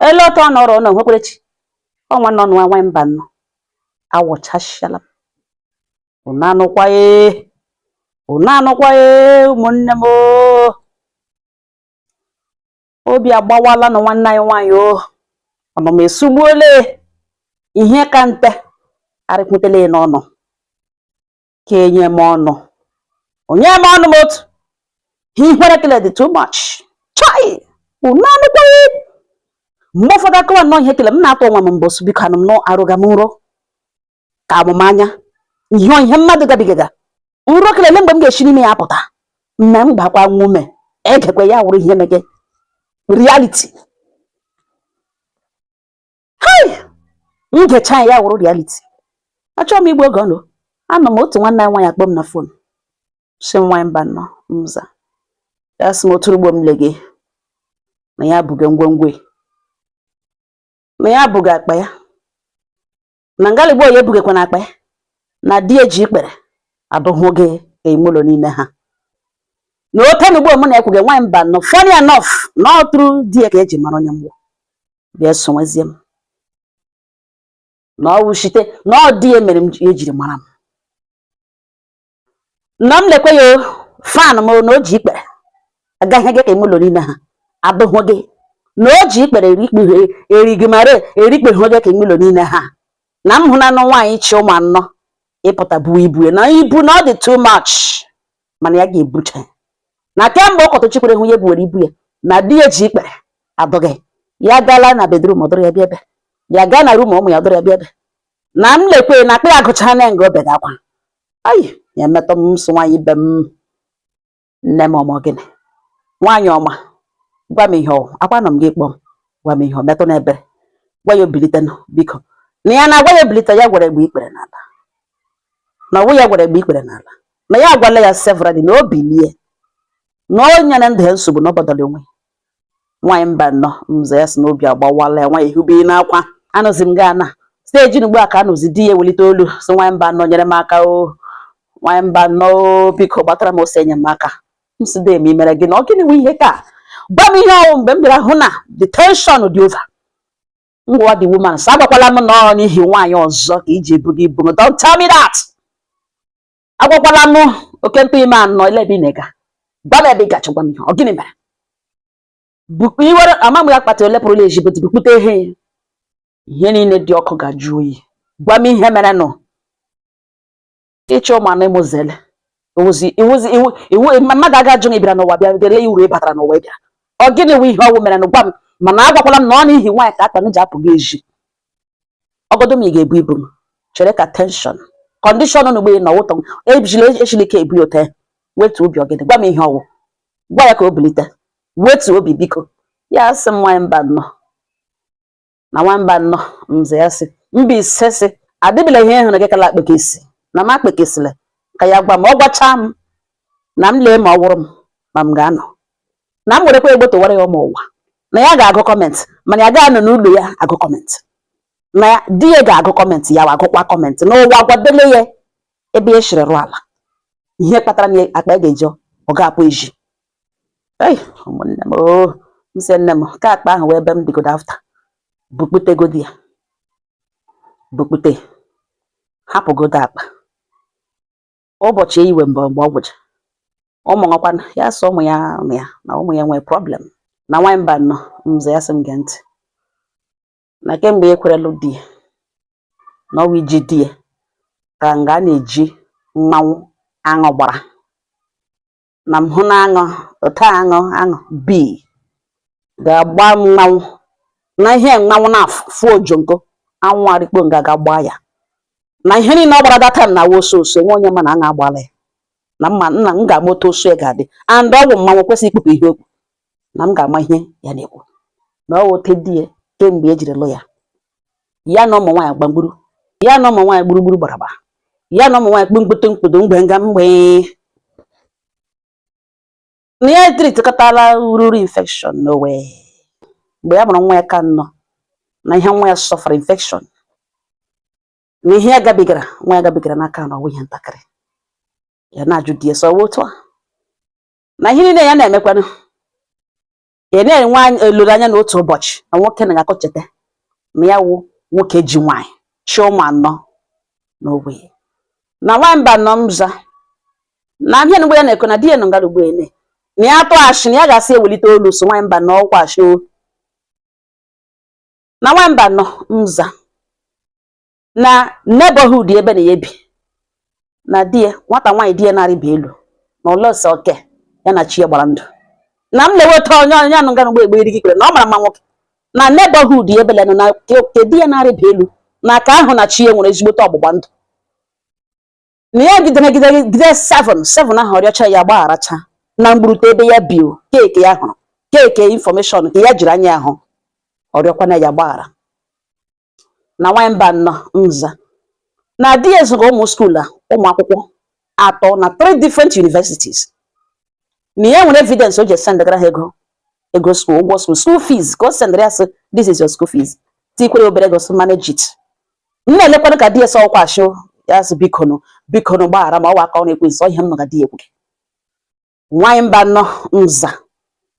ele otu ọ nọrọ na nwekwerechi ọnwa nọ nwa nwaanyị mbanọ awụchasịala m unu anụkwa ee unu anụkwa ee ụmụnne m obi agbawala nụ nwanne anyị nwaanyị o ọnụma esugbuole ihe ka nte arịkwutele n'ọnụ ka enye m ọnụ onye m ọnụ m otu ihere kele dị too much chai unu anụkwa ee mgbe ụfọdụ akọwa nnọọ ihe kele m na-atụ onwe m mbọ sị biko anọ m na arọga m nrọ ka amụ m anya ihe ihe mmadụ gabigaga nrọ kelele mgbe m ga-esi n'ime ya pụta mme m gbakwa nwa ume egekwe ya wụrụ ihe mege reality m gecha ya wụrụ reality achọghị m igbu oge unu anọ m otu nwanne anyị nwaanyị akpọọ m na fon sị nwa mbanọ m za ya sị m otu ugbo m le gị na ya buga ngwongwo na ya buga akpa ya na ngalịgbo ya ebugekwa na akpa ya na di ya ji ikpere adụhụ gị ime ụlọ niile ha na ote na ugbo m na-ekwuge nwaanyị mbanọ funny enough na ọtụrụ di ya ka eji mara onye mgbọ bịa sịwezie m na ọ wụ shite na ọ di ya mere m ejiri gwara m na m lekwe ya fan m na o ji ikpere agaghị gị ka ụlọ niile ha abụghị gị na o ji ikpere erigị mara erikpeghị gị ka ụlọ niile ha na m hụ na nụ nwaanyị chị ụmụ anọ ịpụta buo ibu na ibu na ọ dị too much mana ya ga-ebucha ya na kemgbe ọ kọtụchikwere hụ ya ebuwere ibu ya na di ya ji ikpere adọghị ya gala na bedroom ọ dọrọ ya bịa ebe ya gaa na room ụmụ ya ọ dọrọ ya bịa ebe na m lekwe na akpa ya gụchara na nga obe gakwa ayi ya emetọ m nsọ nwaanyị ibe m nne m ọ wụ gịnị nwaanyị ọma gwa m ihe ọ wụ akwa nọ m gị kpọọ m gwa m ihe ọ metụ n'ebere gwa ya o bilite nụ biko na ya na-agwa ya o bilite ya gwara ya gbuo ikpere n'ala na ọ wụ ya gwara ya gbuo ikpere n'ala na ya agwala ya severally na o bilie na o nyere ndụ ya nsogbu na ọ gbadara onwe nwaanyị mbanọ m za ya sị na obi agbawala ya nwaanyị hube n'akwa anụzi m gaa na steji ugbu a ka anụzi di ya ewelite olu sị nwaanyị mbanọ nyere m aka o nwaanyị mbanọ biko gbatara m ọsọ enyemaka m sị dị eme imere gị na ọ gịnị nwe ihe ka gwa m ihe ọ wụ mgbe m bịara hụ na the tension dị over m gwa the woman sị agwakwala m na ọ n'ihi nwaanyị ọzọ ka i ji ebuge ibu don't tell me that agwakwala m oke ntụ ime anọ ile ebe ị na-ega gwa m ebe ị gacha gwa m ihe ọ gịnị mere iwere ama m akpatị ole pụrụla ezi bụtụ bukpute ihe ya ihe niile dị ọkụ ga-ajụ oyi gwa m ihe mere nụ ị chị ụmụ anọ ịmụzele mmadụ aga ajụ gị bịara n'ụwa bịa dele ya uru ị batara n'ụwa ị bịara ọ gịnị wụ ihe ọwụ mere nụ gwa m mana agwakwala m na ọ n'ihi nwaanyị ka akpa m ji apụ gị ezi ọgọdọ m ị ga-ebu ibu m chere ka tension condition nụ gbee na ụtọ ejila echila ike ebu ya ote wetu obi ọ gịnị gwa m ihe ọwụ gwa ya ka o bilite wetu obi biko ya sị m nwanyị Mbanọ na nwanyị Mbanọ m za ya sị Mbaise sị adịbịla ihe hụrụ gị kala akpeke isi na m akpekesịla ka ya gwa m ọ gwachaa m na m lee ma ọ wụrụ m ma m ga-anọ na m werekwa egbe towara ya ụmụ ụwa na ya ga-agụ comment mana ya ga-anọ n'ụlọ ya agụ comment na di ya ga-agụ comment ya agụkwa comment na ụwa gwadele ya ebe ya shiri rụ ala ihe kpatara na akpa ya ga-eji ọ ga-apụ ezi ụmụnne m oh, m sị nne m ka akpa ahụ wee ebe m digodo after bukputegodi ya bukpute hapụgodo akpa ụbọchị eyiwe mgbe mgbe ọ gwụcha ụmụ nwakwa ya sọ ụmụ ya ụmụ ya na ụmụ ya nwee problem na nwaanyị Mbanọ m za ya sị m gee ntị na kemgbe ya kwere lụ di ya na ọwụ iji di ya ka nga a na-eji mmanwụ aṅụ gbara na m hụ na aṅụ otu aṅụ aṅụ bi ga-agba mmanwụ na ihe mmanwụ na-afụ ojongo aṅụ arịkpo nga ga gbaa ya na ihe niile ọ gbara data na awa oso oso onwe onye ma na aṅụ agbala ya na m ma na m ga-ama otu oso ya ga-adị and ọ bụ mmanwụ kwesịrị ikpupụ ihe o kpu na m ga-ama ihe ya na-ekwu na ọ wote di ya kemgbe ya jiri lụ ya ya na ụmụ nwaanyị gbagburu ya na ụmụ nwaanyị gburugburu gbaraba ya na ụmụ nwaanyị kpụmkpụtụ mkpụdo mgbe nga mgbe na ya treatikọtala ururu infection n'owe mgbe ya mụrụ nwa ya ke anọ na ihe nwa ya sọfara infection na ihe ya gabigara nwa ya gabigara n'aka na ọwụ ihe ntakịrị ya na-ajụ di ya sọ otu a na ihe niile ya na-emekwanụ ya na-enwe anya- olileanya na otu ụbọchị na nwoke na ga-akọ cheta na ya wụ nwoke ji nwaanyị chị ụmụ anọ na ogbe ya na nwanyị Mbanọ m za na ihe nụ ugbu a ya na-ekwu na di ya nọ ngara ugbo ene na ya tụ ashị na ya ga-asị ewelite olu so nwanyị Mbanọ ọwụkwa ashị o na nwanyị Mbanọ m za na neighborhood ebe na ya bi na di ya nwata nwaanyị di ya na-arịba elu na ọlọsọ oke ya na chi ya gbara ndụ na m na-eweta onye onye a nọ nganụ ugbu a egbuiri gị ikpere na ọ mara mma nwoke na neighborhood ebe lenụ na ke di ya na-arịba elu na ka ahụ na chi ya nwere ezigbote ọgbụgba ndụ na ya jidere jidere jide seven seven ahụ ọ rịọcha ya gbagharacha na mgburute ebe ya bi o keke ya hụrụ keke information ka ya jiri anya ya hụ ọ rịọkwana ya gbaghara na nwanyị mbanọ nza na di ya zụrụ ụmụ school a ụmụ akwụkwọ atọ na three different universities na ya nwere evidence o ji esendegara ha ego ego school ụgwọ school school fees ka o sendere ya sị this is your school fees tikwere obere ego sị manage it nna lekwanụ ka di ya sị ọ wụkwa ashị ya sị bikonụ bikonụ gbaghara m ọ wụ aka ọrụ ekwensu ihe m nọ ga di ya ekwughị nwaanyị mbanọ nza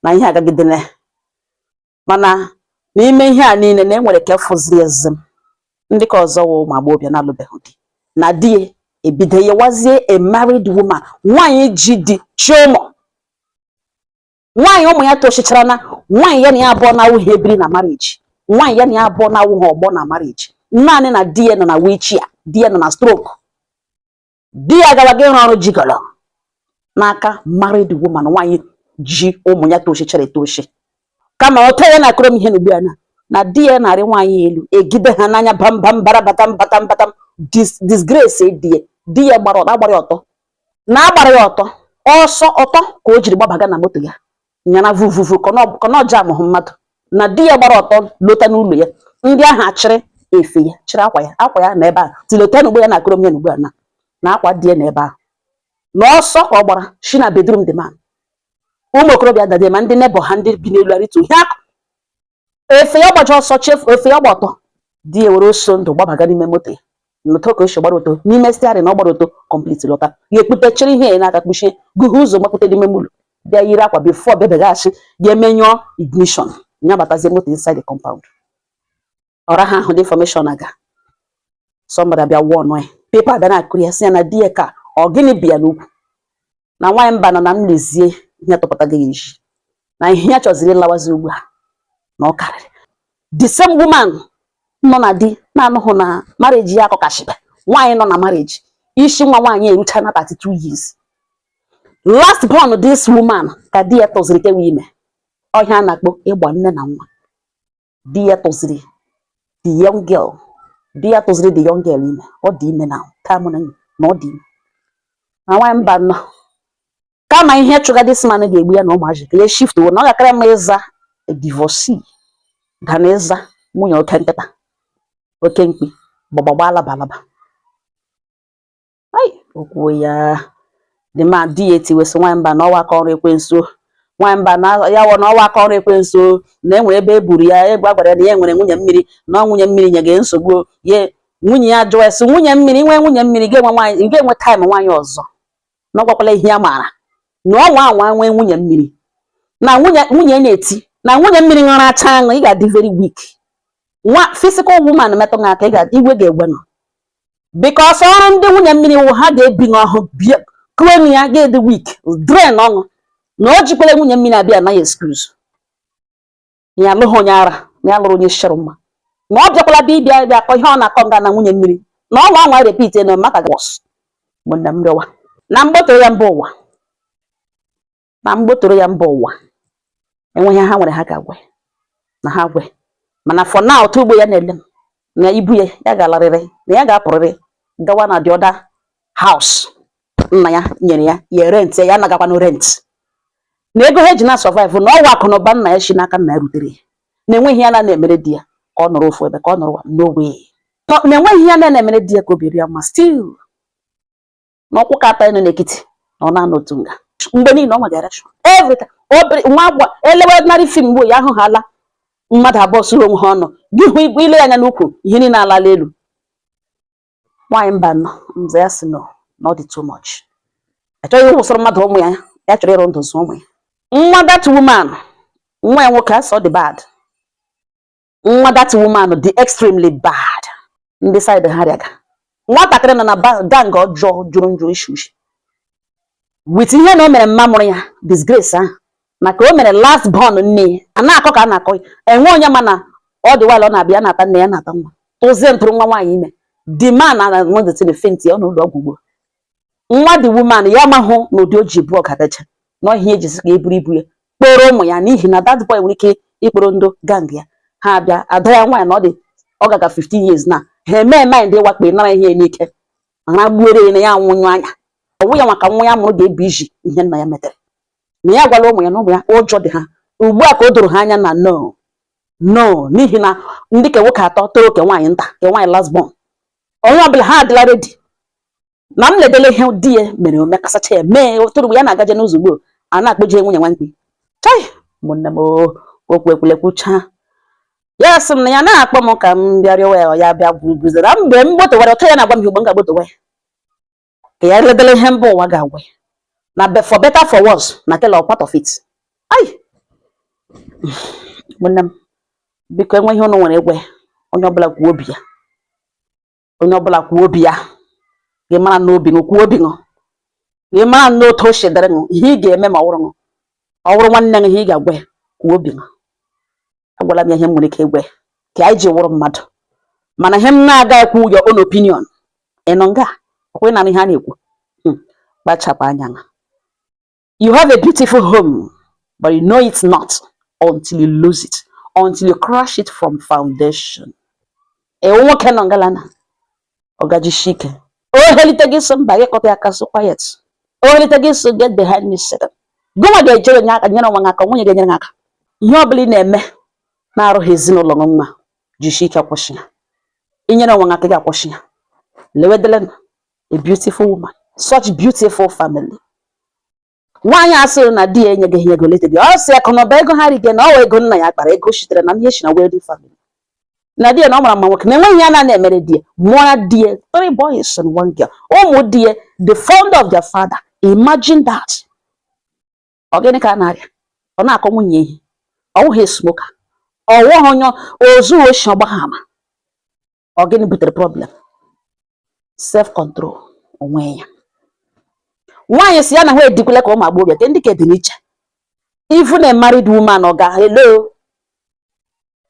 na ihe agagidele mana n'ime ihe a niile na e nwere ka fụzi ezi m ndị ka ọzọ wụ ụmụ agbọghọbịa na-alụbeghị di na di ya ebido yewazie a married woman nwaanyị ji di chị ụmụ nwaanyị ụmụ ya tochichara na nwaanyị ya na ya abụọ na-awụghị ebiri na marriage nwaanyị ya na ya abụọ na-awụghị ọgbọ na marriage naanị na di ya nọ na wheelchair di ya nọ na stroke di ya gawa ịrụ ọrụ gigolo n'aka married woman nwaanyị ji ụmụ ya tochichara etochi kama ọ tọọ ya na-akọrọ m ihe n'ugbu a na di ya na-arị nwaanyị elu e jide ha n'anya bambam bara batam batam batam disgrace di ya di ya gbara ọtọ agbara ọtọ na a gbara ya ọtọ ọsọ ọtọ ka o jiri gbabaga na moto ya nyara vuvuvu kọnọja amụhụ mmadụ na di ya gbara ọtọ lọta n'ụlọ ya ndị ahụ achịrị efe ya chịrị akwa ya akwa ya nọ ebe a tilota n'ugbu ya na-akọrọ m ya n'ugbu a na na akwa di ya nọ ebe ahụ na ọsọ ka ọ gbara shi na bedroom the man ụmụ okorobịa dade ma ndị neighbour ha ndị bi n'elu arịtu ihe akụ efe ya gbaji ọsọ chefu efe ya gba ọtọ di ya were ọsọ ndụ gbabaga n'ime moto ya lọta ka o shi gbara ọtọ n'ime steering na ọ gbara ọtọ complete lọta ya ekpute chịrị ihe ya n'aka kpuchie gụhe ụzọ gbabata n'ime ụlọ bịa yiri akwa before bịabeghachi ya emenyụọ ignition ya batazie moto inside the compound ọra ha ahụ the information aga somebody abịa wụọ ọnụ ya pepa bịa na-akọrọ ya sị ya na di ya ka ọ gịnị bịa n'ukwu na nwaanyị mbanọ na m lezie ihe tụpụta gị iji na ihe ya chọziri ịlawazi ugbu a na ọ karịrị the same woman nọ na di na-anụghị na marriage ya akọkashibe nwaanyị nọ na marriage isi nwa nwaanyị eruchana 32 years last born this woman ka di ya tụziri kewe ime ọ ihe a na-akpọ ịgba nne na nwa di ya tụziri the young girl di ya tụziri the young girl ime ọ dị ime na time na na ọ dị ime na nwaanyị mbanọ kama ihe chụga this man ga-egbu ya na ụmụazị ka ya shift wo na ọ ga-akara mma ịza divorcee ga na ịza nwunye oke nkịta oke mkpi gbagba gbalaba alaba ai okwuo ya dị ma di ya etiwesị nwaanyị mba na ọwa aka ọrụ ekwensu nwaanyị mba na ya wụ na ọwa aka ọrụ ekwensu na enwere ebe e buru ya ebe a gwara ya na ya nwere nwunye mmiri na ọ nwunye mmiri nye gị nsogbu ye nwunye ya jụọ esi nwunye mmiri nwee nwunye mmiri ga-enwe nwaanyị ga-enwe time nwaanyị ọzọ na ọ gwakwala ihe ya maara na ọ nwa anwa nwee nwunye mmiri na nwunye nwunye na-eti na nwunye mmiri ṅụrụ acha aṅụ ị ga-adị very weak nwa physical woman metụ gị aka ị ga- iwe ga-egwe nọ because ọrụ ndị nwunye mmiri wụ ha ga-ebi n'ọhụ bie kue na ya ga-adị weak drain ọṅụ na o jikwala nwunye mmiri abịa anaghị excuse na ya alụghị onye ara na ya lụrụ onye shịrị mma na ọ bịakwala bịa ịbịa bịa akọ ihe ọ na-akọ nga na nwunye mmiri na ọ nwa anwa repeat na maka gos ụmụnne m rịọwa na m gbotoro ya mba ụwa na m gbotoro ya mba ụwa enweghị ha nwere ha ga-agwe na ha gwe mana for now otu ugbo ya na-ele m na ibu ya ya ga-alarịrị na ya ga-apụrịrị gawa na the other house nna ya nyere ya ya rent ya anagakwanụ rent na ego ha ji na survive na ọwa akụ na ụba nna ya si n'aka nna ya rutere ya na enweghị ya na na-emere di ya ka ọ nọrọ ofu ebe ka ọ nọrọ n'ogbe na enweghị ya na na-emere di ya ka obi dị ya mma still na ọkwụ ka atọ nọ n'ekiti na ọ na-anọ otu nga mgbe niile ọ ma direction every time obere nwa agwa elewe ordinary film mgbe ya ahụ ha ala mmadụ abụọ suru onwe ha ọnụ gị hụ igwe ile ya anya n'ukwu ihe niile alala elu nwaanyị mba nọ mza ya sị no na ọ dị too much achọghị ịwụsịrị mmadụ ụmụ ya ya chọrọ ịrụ ndụ zụ ụmụ ya nwa that woman nwa ya nwoke a sị ọ dị bad nwa that woman dị extremely bad ndị side ha rịaga nwatakịrị nọ na gang ọjọọ jụrụ njụ ishi ushi with ihe na o mere mma mụrụ ya disgrace ahụ maka o mere last born nne ya a na-akọ ka a na-akọ ya enwe onye ma na ọ dịwala ọ na-abịa na-ata nne ya na-ata nwa tụzie ntụrụ nwa nwaanyị ime the man na nwedetin faint ya n'ụlọ ọgwụ ugbo nwa the woman ya mahụ na ụdị o ji bụ ọkadacha na ihe ejizi ka e buru ibu ya kpọrọ ụmụ ya n'ihi na that boy nwere ike ịkpọrọ ndị gang ya ha abịa ada ya nwaanyị na ọ dị ọ gaga 15 years na ha eme mind ịwakpe nara ihe n'ike aragbuere ya na ya nwụnyụ anya ọnwụ ya maka nwa ya mụrụ ga-ebu iji ihe nna ya metere na ya gwala ụmụ ya na ụmụ ya ụjọ dị ha ugbu a ka o doro ha anya na no no n'ihi na ndị ke nwoke atọ toro ke nwaanyị nta ke nwaanyị last born onye ọbụla ha adịla ready na m ledele ihe di ya mere ome kasacha ya mee ụtụrụ mgbe ya na-agaje n'ụzọ ugbo a na-akpọje nwunye nwa mkpi chai ụmụnne m okwu ekwulekwucha ya sị m na ya na-akpọ m ka m bịa rịọwa ya ya bịa gwuzere mgbe m gbotowara ọtọ ya na-agwa m ihe ugbo m ga-agbotowa ya ka ya ledele ihe mba ụwa ga-agwa ya na for better for worse na tell all part of it ai ụmụnne m biko e nwee ihe ụnụ nwere ịgwa ya onye ọbụla kwuo obi ya onye ọbụla kwuo obi ya gị mara nnọọ obi ṅụ kwuo obi ṅụ gị mara nnọọ otu o shi dịrị ṅụ ihe ị ga-eme ma ọ wụrụ ṅụ ọ wụrụ nwanne ṅụ ihe ị ga-agwa ya kwuo obi ṅụ agwala m ya ihe m nwere ike ịgwa ya ka anyị ji wụrụ mmadụ mana ihe m na-aga ekwu your own opinion ị nọ nga ọkwa ị na-anụ ihe a na-ekwu hmm. kpachapụ anya na you have a beautiful home but you know it not until you lose it until you crash it from foundation ewu nwoke nọ ngalana ọ ga-ejishi ike o helite gị sị mba gị kọta ya aka sị quiet o helite gị sị get behind me satan gụnwa ga-ejere nye aka nyere onwe gị aka o nweghị onye ga-enyere gị aka ihe ọ bụla ị na-eme na-arụghị ezinụlọ gị mma jishi ike kwụsị ya i nyere onwe gị aka gị akwụsị ya lewedelenụ a beautiful woman such beautiful family nwaanyị a sịrị na di ya enyeghị ya ego leta di ọ sị akụ na ụba ego ha rige na ọ wụ ego nna ya kpara ego sitere na ihe si na wealthy family na di ya na ọ mara mma nwoke na enweghị ihe ya na-ana emere di ya mụọra di ya three boys and one girl ụmụ di ya they're fond of their father imagine that ọ gịnị ka a na-arịa ọ na-akụ nwunye ihe ọ wụghị smoker ọ wụghị onye ozu oshi ọ gbagha ama ọ gịnị butere problem self control onwe ya nwaanyị si ya na ha edikwele ka ụmụ agbọghọbịa ke ndị ka dị n'iche even a married woman ọ ga hello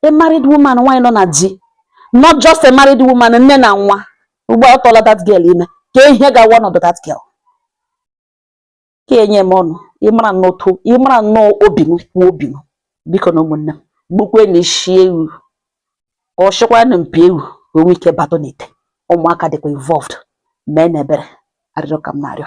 a married woman nwaanyị nọ na di not just a married woman nne na nwa ugbu a ọ tụọla that girl ime kee ihe ga-awụ ọnọdụ that girl ka e nye m ọnụ ịmara nnọtụ ịmara nnọọ obi ṅụ kwuo obi ṅụ bikonụ ụmụnne m gbukwenụ ishi ewu ka ọ chịkwanụ mpi ewu ka o nwee ike batụ n'ite ụmụaka dịkwa involved meenụ ebere arịrịọ ka m na-arịọ